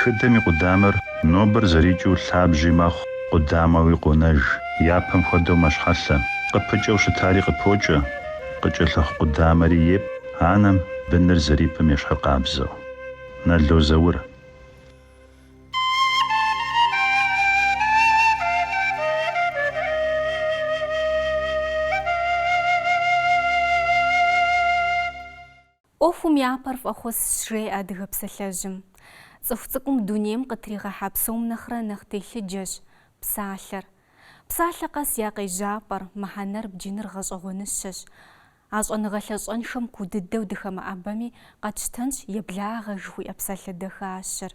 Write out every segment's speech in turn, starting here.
Тхыдэм и къудамэр нобэр зэрикӏыу лъабжьи мэхъу, къудамэуи къонэж, япэм хуэдэу мэщхьэлъэ. Къыпыкӏэу щытари къыпокӏэ, къыкӏэлъыхъу къудамэри епӏ анэм быныр зэрипӏым ещхьыркъабзэу. Нало Заур. ӏуэхум япэр фӏэхъусщ, жеӏэ адыгэ псалъэжьым. Цӏыху цӏыкӏум дунейм къытригъэхьа псом нэхърэ нэхъ телъыджэщ псалъэр. Псалъэ къэс я къежьапӏэр, мыхьэнэр бджыныр гъэщӏэгъуэныщэщ. А щӏэныгъэ лъащӏэншэм куу дыдэу дыхэмыӏэбэми, къэтщтэнщ еблагъэ жыхуиӏэ псалъэ дахащэр.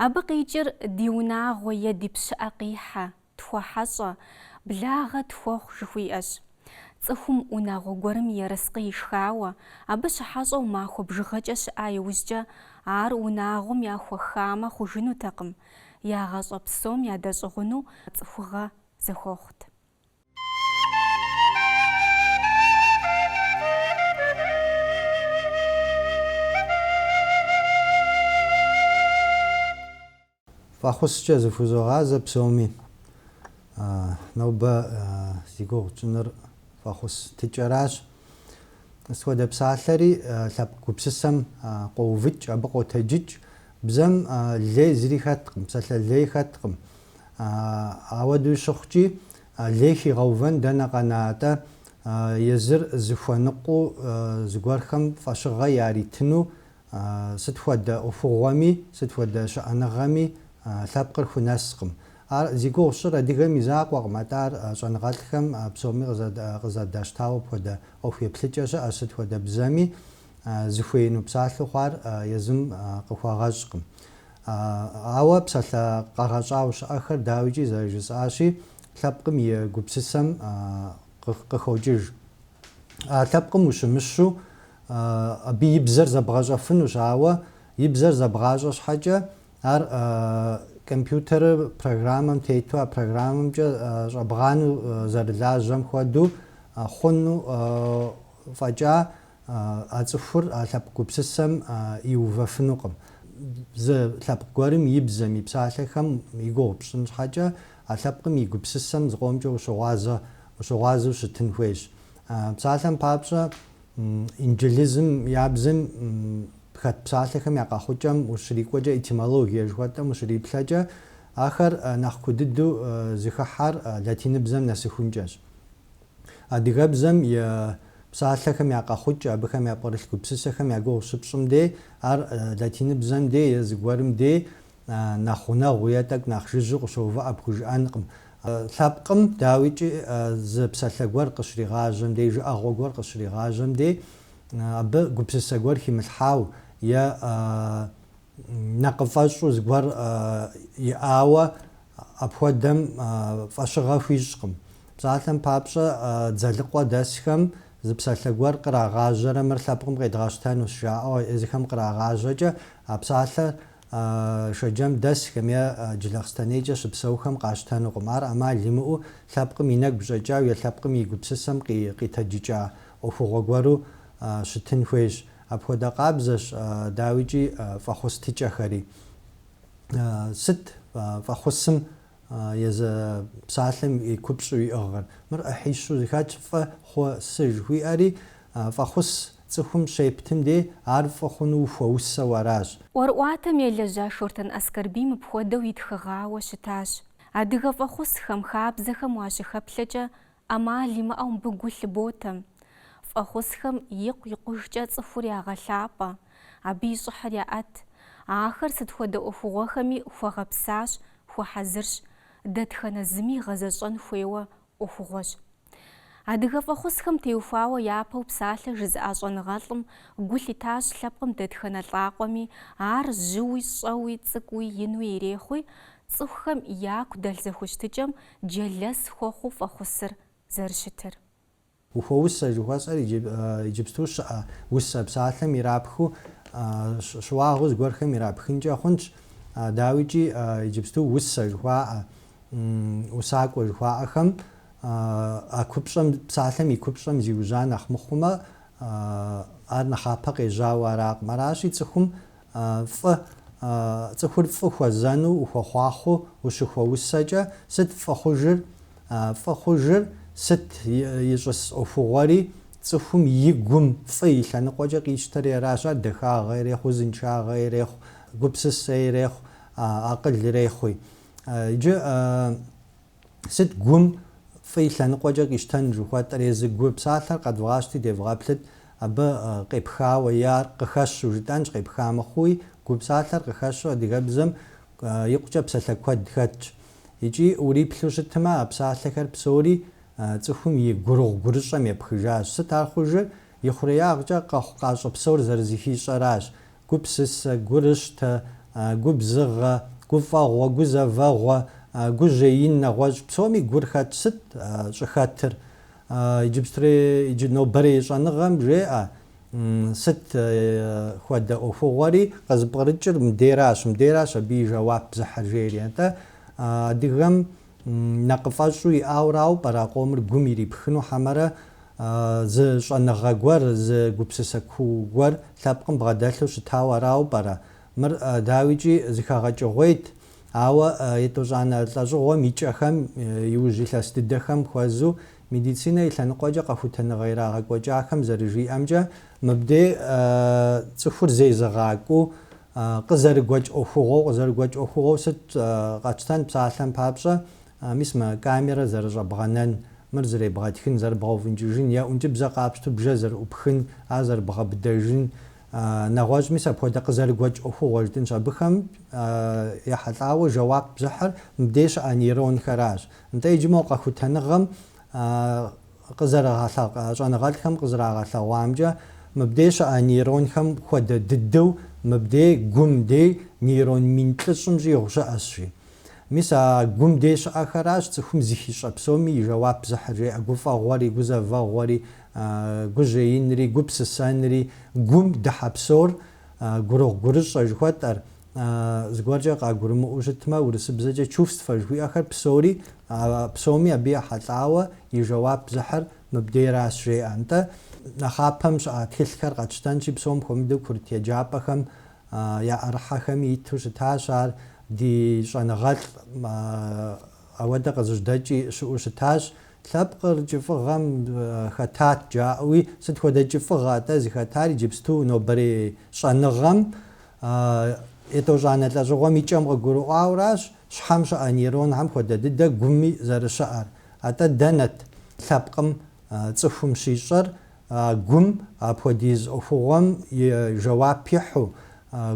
Абы къикӏыр ди унагъуэ е ди пщыӏэ къихьэ, тхуэхьэщӏэ, благъэ тхуэхъу жыхуиӏэщ. Цӏыхум унагъуэ гуэрым и ерыскъы ишхауэ, абы щыхьэщӏэу махуэ бжыгъэкӏэ щыӏа иужькӏэ ар унагъуэм яхуэхамэ хъужынутэкъым, я гъащӏэ псом ядэщӏыгъуну цӏыхугъэ зэхуэхъут. Фӏэхъускӏэ зыхузогъазэ псоми. А, нобэ зи гугъу тщӏыныр фӏэхъус тыкӏэращ. Сыт хуэдэ псалъэри лъэпкъ гупсысэм къоувыкӏ, абы къотэджыкӏ. Бзэм лей зыри хэткъым, псалъэ лей хэткъым. Ауэдэу щыхъукӏи, лей хигъэувэн дэнэ къэна атӏэ, езыр зыхуэныкъуэу зыгуэрхэм фӏэщыгъэ яритыну Сыт хуэдэ ӏуэхугъуэми, сыт хуэдэ щыӏэныгъэми лъэпкъыр хунэскъым. Ар зи гугъу сщӏыр адыгэм и закъуэкъым, атӏэ ар щӏэныгъэлӏхэм псоми къызэдащтауэ апхуэдэ ӏуэху еплъыкӏэ щыӏэщ, сыт хуэдэ бзэми зыхуеину псалъэу хъуар езым къыхуэгъэщӏкъым. Ауэ псалъэ къэгъэщӏауэ щыӏэхэр дауикӏи зэрыжысӏащи, лъэпкъым и гупсысэм къыхокӏыж. А лъэпкъым ущымыщу абы и бзэр зэбгъэщӏэфынущ, ауэ и бзэр зэбгъащӏэ щхьэкӏэ ар компьютерыр программэм тету а программэмкӏэ щӏэбгъанэу зэрылажьэм хуэдэу хъуну фӏэкӏа а цӏыхур а лъэпкъ гупсысэм иувэфынукъым. Зы лъэпкъ гуэрым и бзэм и псалъэхэм и гугъу пщӏын щхьэкӏэ А лъэпкъым и гупсысэм зыкъомкӏэ ущыгъуазэ, ущыгъуазэу щытын хуейщ. Псалъэм папщӏэ, инджылызым я бзэм хэт псалъэхэм я къэхъукӏэм ущрикӏуэкӏэ, этимологие жыхуэтӏэм ущриплъэкӏэ, ахэр нэхъ куу дыду зыхыхьэр латиныбзэм нэсыхункӏэщ. Адыгэбзэм и псалъэхэм я къэхъукӏэ, абыхэм япкърылъ гупсысэхэм я гугъу щыпщӏым дей, ар латиныбзэм дей е зыгуэрым дей нэхъ гъунэгъуу е тӏэкӏу нэхъ жыжьэу къыщоувыӏэ пхужыӏэнкъым. Лъэпкъым, дауикӏи, зы псалъэ гуэр къыщригъажьэм дей, жыӏэгъуэ гуэр къыщригъажьэм дей, абы гупсысэ гуэр химылъхьау е нэкъыфӏэщӏу зыгуэр иӏауэ апхуэдэм фӏэщыгъэ хуищӏкъым. Псалъэм папщӏэ, Дзэлыкъуэ дэсхэм зы псалъэ гуэр кърагъажьэрэ мыр лъэпкъым къедгъэщтэнущ жаӏэу езыхэм кърагъажьэкӏэ, а псалъэр Шэджэм дэсхэм е Джылахъстэнейкӏэ щыпсэухэм къащтэнукъым. Ар ӏэмал имыӏэу лъэпкъым и нэгу щӏэкӏау е лъэпкъым и гупсысэм къитэджыкӏа ӏуэхугъуэ гуэру щытын хуейщ. Апхуэдэ къабзэщ, дауикӏи, фӏэхъус тыкӏэхэри. Сыт фӏэхъусым Езы псалъэм и купщӏу иӏыгъыр. Мыр ӏыхьищу зыхэтщ, фӏы, хъу, сы жыхуиӏэри, фӏэхъус цӏыхум щептым дей, ар фӏы хъуну ухуэусэу аращ. ӏуэрыӏуатэм елэжьа Шортэн Аскэрбий мыпхуэдэу итхыгъауэ щытащ. Адыгэ фӏэхъусхэм, хабзэхэм уащыхэплъэкӏэ, ӏэмал имыӏэу мыбы гу лъыботэ, фӏэхъусхэм икъу-икъужкӏэ цӏыхур ягъэлъапӏэ, абы и щӏыхьыр яӏэт, ахэр сыт хуэдэ ӏуэхугъуэхэми хуэгъэпсащ, хуэхьэзырщ, дэтхэнэ зыми гъэзэщӏэн хуейуэ ӏуэхугъуэщ. Адыгэ фӏэхъусхэм теухуауэ япэу псалъэ жызыӏа щӏэныгъэлӏым гу лъитащ лъэпкъым дэтхэнэ лӏакъуэми, ар жьыуи, щӏэуи, цӏыкӏуи, инуи ирехъуи, цӏыхухэм яку дэлъ зэхущытыкӏэм джэлэс хуэхъуу фӏэхъусыр зэрыщытыр. Ухуэусэ жыхуэсӏэр иджыпсту щыӏэ усэ псалъэм ирапхыу щыуагъэу зыгуэрхэм ирапхынкӏэ хъунщ, дауикӏи иджыпсту усэ жыхуаӏэ, усакӏуэ жыхуаӏэхэм а купщӏэм, псалъэм и купщӏэм зиужьа нэхъ мыхъумэ, ар нэхъапэ къежьауэ аракъым. Аращи, цӏыхум фӏы, цӏыхур фӏы хуэзэну ухуэхъуахъуэу ущыхуэусэкӏэ, сыт фӏы хъужыр? Фӏы хъужыр сыт? Ищӏыс ӏуэхугъуэри цӏыхум и гум фӏы и лъэныкъуэкӏэ къищтэри аращ. Ар дахагъэ ирехъу, узыншагъэ ирехъу, гупсысэ ирехъу, акъыл ирехъуи. Иджы Сыт гум фӏы и лъэныкъуэкӏэ къищтэн жыхуэтӏэр? Езы гу псалъэр къэдвгъащти, девгъэплъыт, абы къепхауэ е ар къыхэщу жытӏэнщ, къепха мыхъуи, гу псалъэр къыхэщу адыгэбзэм икъукӏэ псалъэ куэд хэтщ. Икӏи уриплъу щытмэ, а псалъэхэр псори цӏыхум и гурыгъу-гурыщӏэм епхыжащ. Сыт ар хъужыр? И хъуреягъкӏэ къэхъукъащӏэ псор зэрызыхищӏэращ. Гупсысэ, гурыщтэ, губзыгъэ, гуфӏэгъуэ, гузэвэгъуэ, гужьеин, нэгъуэщӏ псоми гур хэт сыт щӏыхэтыр? Иджыпстури иджы нобэрей щӏэныгъэм жеӏэ, сыт хуэдэ ӏуэхугъуэри къызыпкърыкӏыр мдейращ, мдейращ абы и жэуап зыхьыр жери. Атӏэ адыгэм Нэкъыфӏэщӏу иӏауэрауэ пӏэрэ а къомыр гум ирипхыну хьэмэрэ зы щӏэныгъэ гуэр, зы гупсысэ куу гуэр лъэпкъым бгъэдэлъу щытауэ арауэ пӏэрэ? Мыр, дауикӏи, зыхэгъэкӏыгъуейт, ауэ етӏощӏанэ лӏэщӏыгъуэм и кӏэхэм, иужь илъэс дыдэхэм хуэзу, медицинэ и лъэныкъуэкӏэ къэхутэныгъэ ирагъэкӏуэкӏахэм зэрыжиӏэмкӏэ, мыбдей цӏыхур зезыгъакӏуэу А къызэрыгуэкӏ ӏуэхугъуэу, къызэрыгуэкӏ ӏуэхугъуэу сыт къэтщтэн псалъэм папщӏэ, мис мы камерэ зэрыщӏэбгъэнэн, мыр зэребгъэтхын, зэрыбгъэуфӏынкӏыжын, е ӏункӏыбзэ къапщту бжэр зэрыӏупхын, ар зэрыбгъэбыдэжын, нэгъуэщӏ мис апхуэдэ къызэрыгуэкӏ ӏуэхугъуэ жытӏынщ. Абыхэм ехьэлӏауэ жэуап зыхьыр мыбдей щыӏэ нейронхэращ. Нтӏэ иджы мо къэхутэныгъэм Къызэрыгъэлъэгъ щӏэныгъэлӏхэм къызэрагъэлъэгъуамкӏэ, мыбдей щыӏэ нейронхэм хуэдэ дыдэу мыбдей гум дей нейрон мин плӏыщӏым щӏигъу щыӏэщ, жи. Мис а гум дей щыӏэхэращ цӏыхум зыхищӏэ псоми и жэуап зыхьыр, жеӏэ, гуфӏэгъуэри, гузэвэгъуэри, гужьеинри, гупсысэнри, гум дыхьэ псор, гурыгъу-гурыщӏэ жыхуэтӏэр, зыгуэркӏэ къагурымыӏуэу щытмэ, урысыбзэкӏэ чувствэ жыхуиӏэхэр псори, псоми абы ехьэлӏауэ и жэуап зыхьыр мыбдейращ, жеӏэ. Нтӏэ, нэхъапэм щыӏа тхылъхэр къэтщтэнщи, псом хуэмыдэу курыт еджапӏэхэм яӏэрыхьэхэми иту щытащ ар, ди щӏэныгъэлӏ ауэдэ къызыжьэдэкӏи щыӏэу щытащ. Лъэпкъыр кӏыфӏыгъэм хэтат жаӏэуи, сыт хуэдэ кӏыфӏыгъэ атӏэ зыхэтар? Иджыпсту нобэрей щӏэныгъэм А етӏощӏанэ лӏэщӏыгъуэм и кӏэм къыгурыӏуауэращ щхьэм щыӏэ нейронхэм хуэдэ дыдэ гуми зэрыщыӏэр. Атӏэ дэнэт лъэпкъым цӏыхум щищӏэр а гум апхуэдиз ӏуэхугъуэм и жэуап ихьу,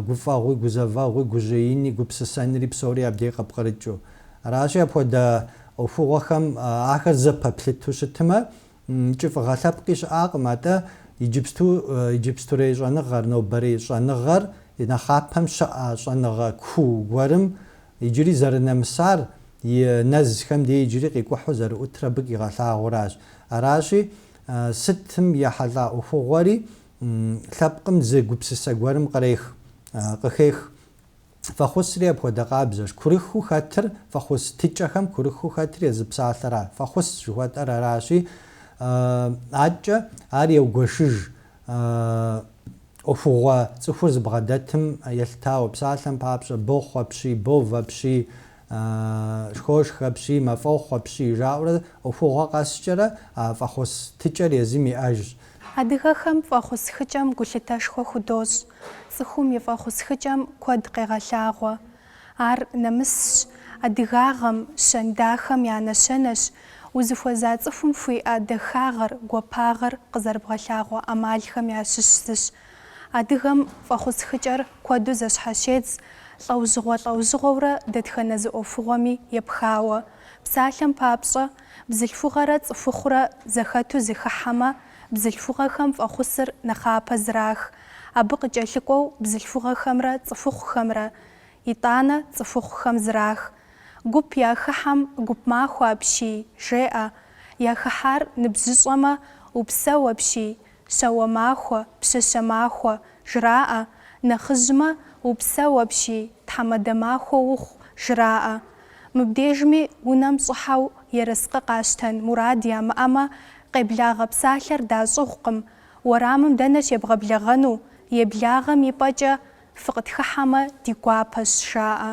гуфӏэгъуи, гузэвэгъуи, гужьеини, гупсысэнри псори абдей къыпкърыкӏыу? Аращи, апхуэдэ ӏуэхугъуэхэм ахэр зэпэплъыту щытмэ, Кӏыфӏыгъэ лъэпкъи щыӏакъым, атӏэ иджыпсту иджыпстурей щӏэныгъэр, нобэрей щӏэныгъэр, нэхъапэм щыӏэ щӏэныгъэ куу гуэрым иджыри зэрынэмысар, и нэзхэм дей иджыри къикӏухьу зэрыӏутыр абы къигъэлъагъуэращ. Аращи, сытым ехьэлӏа ӏуэхугъуэри лъэпкъым зы гупсысэ гуэрым кърех, къыхех. Фӏэхъусри апхуэдэ къабзэщ. Курыхыу хэтыр, фӏэхъус тыкӏэхэм курыхыу хэтыр езы псалъэра, фӏэхъус жыхуэтӏэр аращи, аткӏэ ар еугуэшыж ӏуэхугъуэ цӏыхур зыбгъэдэтым елъытауэ, псалъэм папщӏэ, бохъу апщий, бов апщий, Шхошх апщий, мафӏохъу апщий, жаӏэурэ ӏуэхугъуэ къэскӏэрэ а фӏэхъус тыкӏэр езым иӏэжщ. Адыгэхэм фӏэхъусхыкӏэм гулъытэшхуэ худощӏ, цӏыхум и фӏэхъусхыкӏэм куэд къегъэлъагъуэ. Ар нэмысщ, адыгагъэм, щэн дахэм я нэщэнэщ, узыхуэза цӏыхум хуиӏэ дахагъэр, гуапагъэр къызэрыбгъэлъагъуэ ӏэмалхэм ящыщ зыщ Адыгэм фӏэхъусхыкӏэр куэду зэщхьэщедз, лӏэужьыгъуэ-лӏэужьыгъуэурэ дэтхэнэ зы ӏуэхугъуэми епхауэ. Псалъэм папщӏэ, бзылъхугъэрэ цӏыхухъурэ зэхэту зыхыхьэмэ, бзылъхугъэхэм фӏэхъусыр нэхъапэ зрах, абы къыкӏэлъыкӏуэу бзылъхугъэхэмрэ цӏыхухъухэмрэ, итӏанэ цӏыхухъухэм зрах. Гуп яхыхьэм гуп махуэ апщий, жеӏэ. Яхыхьар ныбжьыщӏэмэ, упсэу апщий, Щауэ махуэ, пщащэ махуэ, жраӏэ, нэхъыжьмэ, упсэу апщий, тхьэмадэ махуэ ухъу, жраӏэ. Мыбдежми унэм щӏыхьэу ерыскъы къащтэн мурад ямыӏэмэ, къеблагъэ псалъэр дащӏыгъукъым, уэрамым дэнэ щебгъэблэгъэну, еблагъэм и пӏэкӏэ фыкъытхыхьэмэ ди гуапэщ, жаӏэ.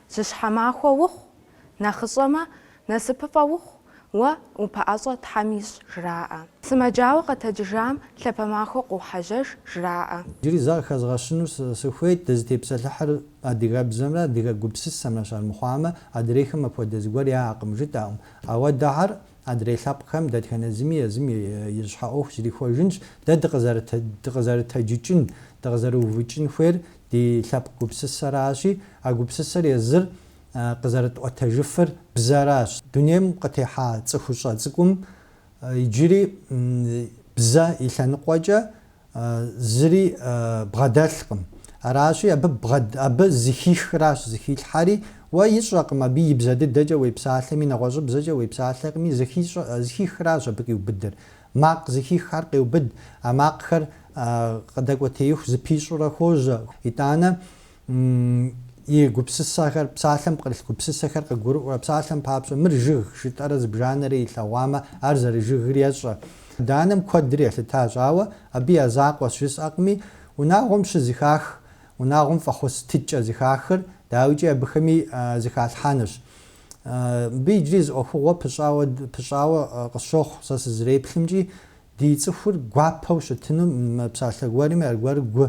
Жьыщхьэ махуэ ухъу, нэхъыщӏэмэ, насыпыфӏэ ухъу, уэ упэӏэщӏэ Тхьэм ищӏ, жраӏэ. Сымаджауэ къэтэджыжам лъапэ махуэ къохьэжьэж, жраӏэ. Иджыри зэ къыхэзгъэщыну сыхуейт, дызытепсэлъыхьыр адыгэбзэмрэ адыгэ гупсысэмрэщ, армыхъуамэ, адрейхэм апхуэдэ зыгуэр яӏэкъым, жытӏакъым. Ауэ дэ ар, адрей лъэпкъхэм, дэтхэнэ зыми езым и щхьэ ӏуэху зрихуэжынщ, дэ дыкъызэрытэджыкӏын, дыкъызэрыувыкӏын хуейр ди лъэпкъ гупсысэращи, а гупсысэр езыр къызэрытӏуэтэжыфыр бзэращ. Дунейм къытехьа цӏыхущӏэ цӏыкӏум иджыри бзэ и лъэныкъуэкӏэ зыри бгъэдэлъкъым. Аращи, абы зыхихращ зыхилъхьэри, уэ ищӏэкъым абы и бзэ дыдэкӏэ уепсалъэми, нэгъуэщӏыбзэкӏэ уепсалъэкъыми, зыхихращ абы къиубыдыр. Макъ зыхиххэр къеубыд, а макъхэр къыдэкӏуэтеиху зыпищӏэурэ хожьэ. Итӏанэ и гупсысэхэр, псалъэм пкърылъ гупсысэхэр къыгурыӏуэурэ, псалъэм папщӏэ, мыр жыг жытӏэрэ зыбжанэрэ илъэгъуамэ, ар зэрыжыгыр ещӏэ. Адэ-анэм куэдри елъытащ, ауэ абы я закъуэщ жысӏэкъыми, унагъуэм щызыхах, унагъуэм фӏэхъус тыкӏэ зыхахыр, дауикӏи абыхэми зыхалъхьэнущ. Мыбы иджыри зы ӏуэхугъуэ пыщӏауэ къысщохъу сэ сызреплъымкӏи, ди цӏыхур гуапэу щытыну, мы псалъэ гуэрми аргуэру гу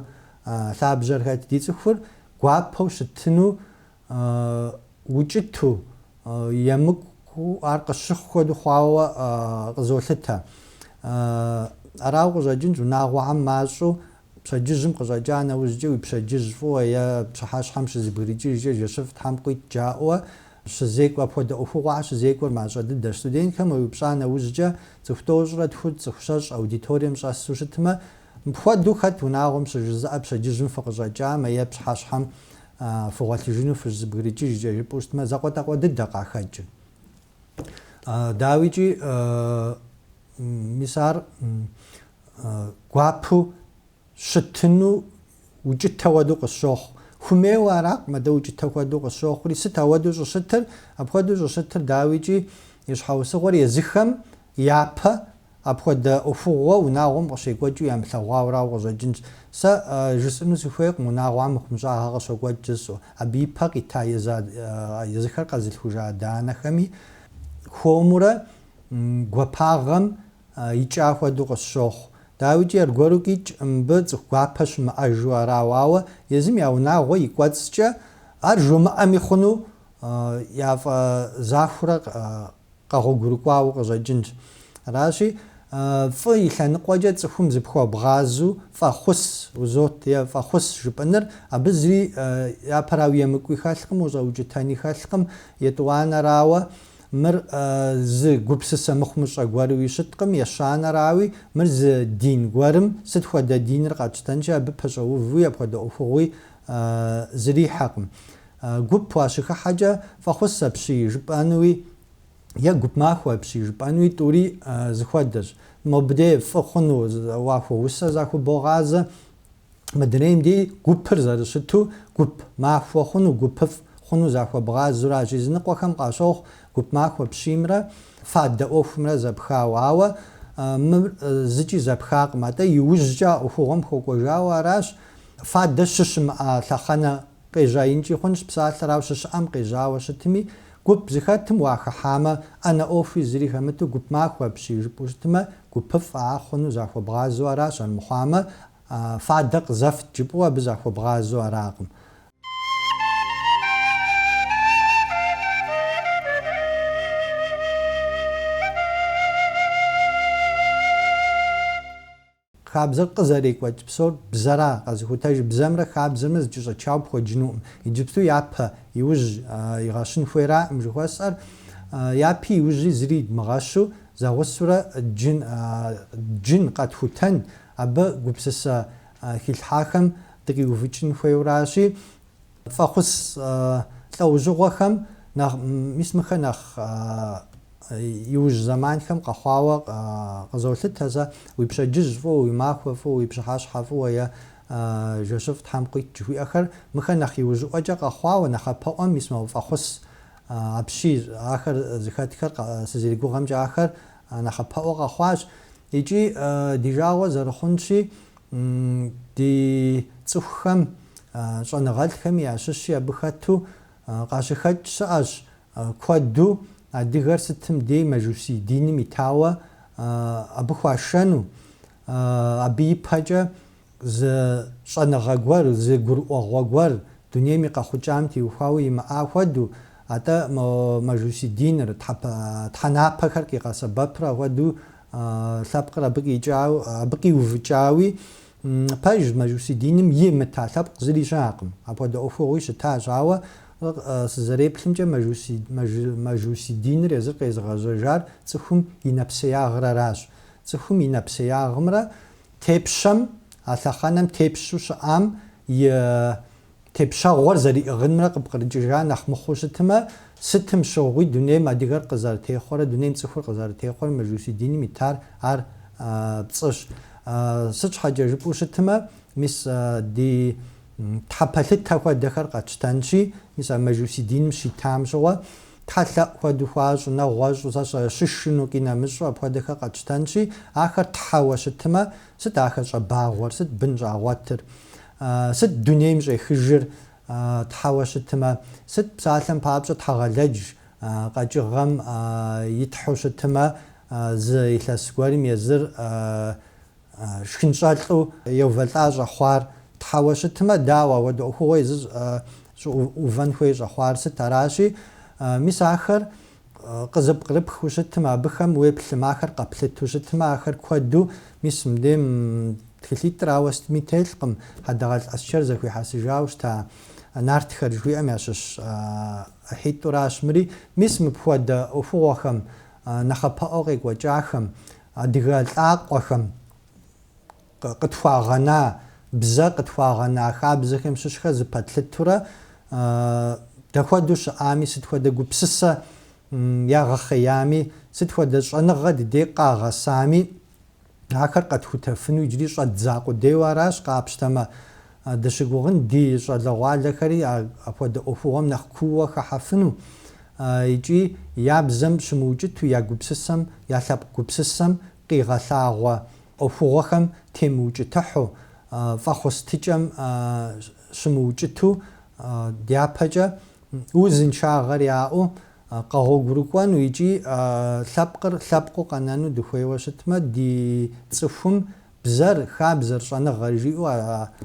лъабжьэр хэт, ди цӏыхур гуапэу щытыну укӏыту, емыкӏуу ар къыщыхъу хуэдэу хъуауэ къызолъытэ. Арауэ къыщӏэкӏынщ унагъуэхэм мащӏэу Пщэдджыжьым къыщӏэкӏа нэужькӏэ уи пщэдджыжь фӏыуэ е пщыхьэщхьэм щызыбгрыкӏыжкӏэ жэщыфӏ Тхьэм къуит жаӏэу щызекӏуэ, апхуэдэ ӏуэхугъуэхэр щызекӏуэр мащӏэ дыдэщ. Студентхэм уеупщӏа нэужькӏэ, цӏыху тӏощӏрэ тху, цӏыху щэщӏ аудиторием щӏэсу щытмэ, мыпхуэдэу хэт унагъуэм щыжызыӏэ пщэдджыжьым фыкъыщӏэкӏамэ е пщыхьэщхьэм фыгъуэлъыжыну фыщызыбгрыкӏыжкӏэ жыпӏэу щытмэ, закъуэтӏакъуэ дыдэ къахэкӏыр. Дауикӏи, мис ар гуапэу щытыну укӏытэ хуэдэу къысщохъу. Хуэмейуэ аракъым, атӏэ укӏытэ хуэдэу къысщохъури, сыт ауэдэу щӏыщытыр? Апхуэдэу щӏыщытыр, дауикӏи, и щхьэусыгъуэр езыхэм япэ апхуэдэ ӏуэхугъуэ унагъуэм къыщекӏуэкӏыу ямылъэгъуауэ арауэ къыщӏэкӏынщ. Сэ жысӏэну сыхуейкъым унагъуэм мыхъумыщӏагъэ къыщокӏуэкӏ жысӏэу. Абы и пэ къита езыхэр къэзылъхужа адэ-анэхэми хуэмурэ гуапагъэм Икӏа хуэдэу къысщохъу. Дауикӏи аргуэру къикӏ, мыбы цӏыху гуапэ щымыӏэжу арауэ, ауэ езым я унагъуэ и кӏуэцӏкӏэ ар жумыӏэми хъуну, яфӏэзахуэурэ къэгъуэгурыкӏуауэ къыщӏэкӏынщ. Аращи, фӏы и лъэныкъуэкӏэ цӏыхум зыпхуэбгъазу фӏэхъус узот е фӏэхъус жыпӏэныр, абы зыри япэрауи емыкӏуи хэлъкъым, ущӏэукӏытэни хэлъкъым, етӏуанэрауэ, Мыр зы гупсысэ мыхъумыщӏэ гуэруи щыткъым, ещанэрауи, мыр зы дин гуэрым, сыт хуэдэ диныр къатщтэнкӏэ, абы пэщӏэувуи апхуэдэ ӏуэхугъуи зрихьэкъым. Гуп уащыхыхьэкӏэ, фӏэхъус апщий жыпӏэнуи е гуп махуэ апщий жыпӏэнуи тӏури зыхуэдэщ. Мобдей фӏы хъуну уахуэусэу захубогъазэ. Мыдрейм ди гупыр зэрыщыту гуп махуэ хъуну, гупыфӏ хъуну захуэбгъазэу аращ. Языныкъуэхэм къащохъу гуп махуэ апщиймрэ фадэ ӏуэхумрэ зэпхауэ. Ауэ мыр зыкӏи зэпхакъым, атӏэ иужькӏэ а ӏуэхугъуэм хуэкӏуэжауэ аращ фадэ щыщымыӏа лъэхъэнэ Къежьаинкӏи хъунщ псалъэр, ау щыщыӏэм къежьауэ щытми, гуп зэхэтым уахыхьамэ, ӏэнэ ӏуэхуи зыри хэмыту гуп махуэ апщий жыпӏэу щытмэ, гупыфӏ а хъуну захуэбгъазэу аращ, армыхъуамэ, фадэ къызэфт жыпӏэу абы захуэбгъазэу аракъым. Хабзэр къызэрекӏуэкӏ псор бзэра, къэзыхутэж бзэмрэ хабзэмрэ зэкӏэщӏэчауэ пхуэджынукъым. Иджыпсту япэ иужь игъэщын хуейракъым жыхуэсӏэр. Япи иужьи зыри идмыгъэщу, зэгъусурэ джын джын къэтхутэн, абы гупсысэ хилъхьахэм дыкъиувыкӏын хуейуэращи, Фӏэхъус лӏэужьыгъуэхэм нэхъ, мис мыхэр нэхъ иужь зэманхэм къэхъуауэ къызолъытэ сэ, уи пщэдджыжь фӏыуэ, уи махуэ фӏыуэ, уи пщыхьэщхьэ фӏыуэ е Жэщыфӏ Тхьэм къуит жыхуиӏэхэр, мыхэр нэхъ иужьыӏуэкӏэ къэхъуауэ, нэхъапэӏуэм мис мо фӏэхъус апщий, ахэр зыхэтхэр сызэригугъэмкӏэ ахэр нэхъапэӏуэ къэхъуащ. Икӏи ди жагъуэ зэрыхъунщи, Ди цӏыхухэм щӏэныгъэлӏхэми ящыщи абы хэту къащыхэкӏ щыӏэщ. Куэду адыгэр сытым дей мэжусий диным итауэ абы хуашэну, абы ипэкӏэ зы щӏэныгъэ гуэр, зы гурыӏуэгъуэ гуэр дунейм и къэхъукӏам теухуауэ имыӏа хуэду, атӏэ мо мэжусий диныр, тхьэпэ, тхьэнапэхэр къигъэсэбэпрэ хуэду лъэпкъыр абы къикӏауэ, абы къиувыкӏауи, пэж Мэжуси диным имыта лъэпкъ зыри щыӏэкъым. Апхуэдэ ӏуэхугъуи щытащ, ауэ сызэреплъымкӏэ, Мэжуси диныр езыр къезыгъэжьэжар цӏыхум и нэпсеягърэращ. Цӏыхум и нэпсеягъымрэ тепщэм, а лъэхъэнэм тепщу щыӏам и Тепщэгъуэр зэриӏыгъынымрэ къыпкърыкӏыжа нэхъ мыхъуу щытымэ, сытым щыгъуи дунейм адыгэр къызэрытехъуэрэ дунейм цӏыхур къызэрытехъуэрэ мэжуси диным итар ар пцӏыщ. Сыт щхьэкӏэ жыпӏэу щытымэ, мис ди тхьэпэлъытэ хуэдэхэр къэтщтэнщи, мис а мэжуси диным щитам щыгъуэ, тхьэлъэӏу хуэдэу хуащӏ, нэгъуэщӏу, сэ сщӏэ, щышыну, къинэмыщӏу апхуэдэхэр къэтщтэнщи, ахэр тхьэуэ щытымэ, сыт ахэр щӏэбагъуэр, сыт бын щӏагъуэтыр? А сыт дунейм щӏехыжыр тхьэуэ щытмэ? Сыт псалъэм папщӏэ Тхьэгъэлэдж къэкӏыгъэм и тхьэу щытмэ, зы илъэс гуэрым езыр шхынщӏэлӏу еувэлӏа щӏэхъуар тхьэуэ щытмэ? Дауэ апхуэдэ ӏуэхугъуэ езыр щӏыӏувэн хуей щӏэхъуар? Сыт аращи? Мис ахэр къызыпкърыпхыу щытым, абыхэм уеплъмэ, ахэр къэплъыту щытмэ, ахэр куэду, мис мыбдейм тхылъитӏрауэ сытми телъкъым, Хьэдэгъэлӏ Аскэр зэхуихьэсыжауэ щыта нартхэр жыхуиӏэм ящыщ ӏыхьитӏуращ мыри, мис мыпхуэдэ ӏуэхугъуэхэм, нэхъапэӏуэу къекӏуэкӏахэм, адыгэ лӏакъуэхэм Къытхуагъэна бзэ, къытхуагъэна хабзэхэм щыщхэр зыпэтлъытурэ, дэ хуэдэу щыӏами, сыт хуэдэ гупсысэ ягъэхъеями, сыт хуэдэ щӏэныгъэ ди дей къагъэсами, ахэр къэтхутэфыну иджыри щӏэдза къудейуэ аращ, къапщтэмэ, дыщыгугъын ди щӏалэгъуалэхэри апхуэдэ ӏуэхугъуэм нэхъ кууэ хэхьэфыну икӏи я бзэм щымыукӏыту, я гупсысэм, я лъэпкъ гупсысэм къигъэлъагъуэ ӏуэхугъуэхэм темыукӏытыхьу, фӏэхъустыкӏэм щымыукӏыту, дяпэкӏэ, узыншагъэр яӏэу, къэгъуэгурыкӏуэну икӏи лъэпкъыр лъэпкъыу къэнэну дыхуейуэ щытмэ, ди цӏыхум бзэр, хабзэр, щӏэныгъэр жиӏэу а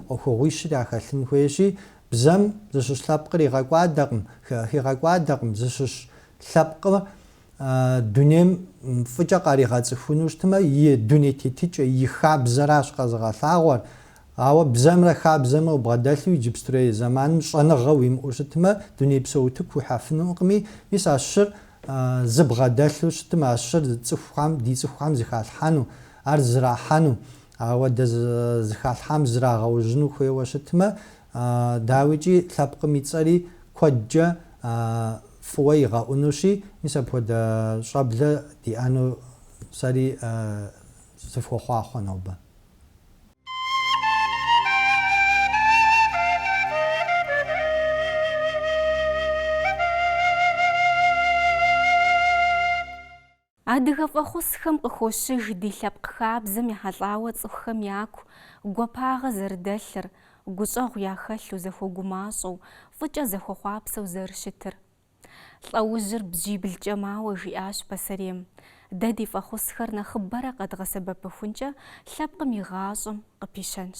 ӏуэхугъуищыр яхэлъын хуейщи, бзэм зыщыщ лъэпкъыр игъэкӏуадэкъым, хигъэкӏуадэкъым, зыщыщ лъэпкъыр дунейм фӏыкӏэ къаригъэцӏыхуну щытмэ, и дуней тетыкӏэ, и хабзэращ къэзыгъэлъагъуэр. Ауэ бзэмрэ хабзэмрэ убгъэдэлъу иджыпстурей зэманым щӏэныгъэ уимыӏэу щытмэ, дунейпсо утыку уихьэфынукъыми, мис а щыр зыбгъэдэлъу щытмэ, а щыр цӏыхухэм, ди цӏыхухэм зыхалъхьэну, ар зэрахьэну, ауэ щыхъукӏэ зыхалъхьам зрагъэужьыну хуейуэ щытмэ, Дауикӏи, лъэпкъым и цӏэри куэдкӏэ фӏыуэ игъэӏунущи, мис апхуэдэ щӏэблэ диӏэну сэри сыфхуохъуэхъу нобэ. Адыгэ фӏэхъусхэм къыхощыж ди лъэпкъ хабзэм ехьэлӏауэ цӏыхухэм яку гуапагъэ зэрыдэлъыр, гущӏэгъу яхэлъу, зэхуэгумащӏэу, фӏыкӏэ зэхуэхъуапсэу зэрыщытыр. Лӏэужьыр бжьиблкӏэ мауэ жиӏащ пасэрейм, Дэ ди фӏэхъусхэр нэхъыбэрэ къэдгъэсэбэпыхункӏэ лъэпкъым и гъащӏэм къыпищэнщ.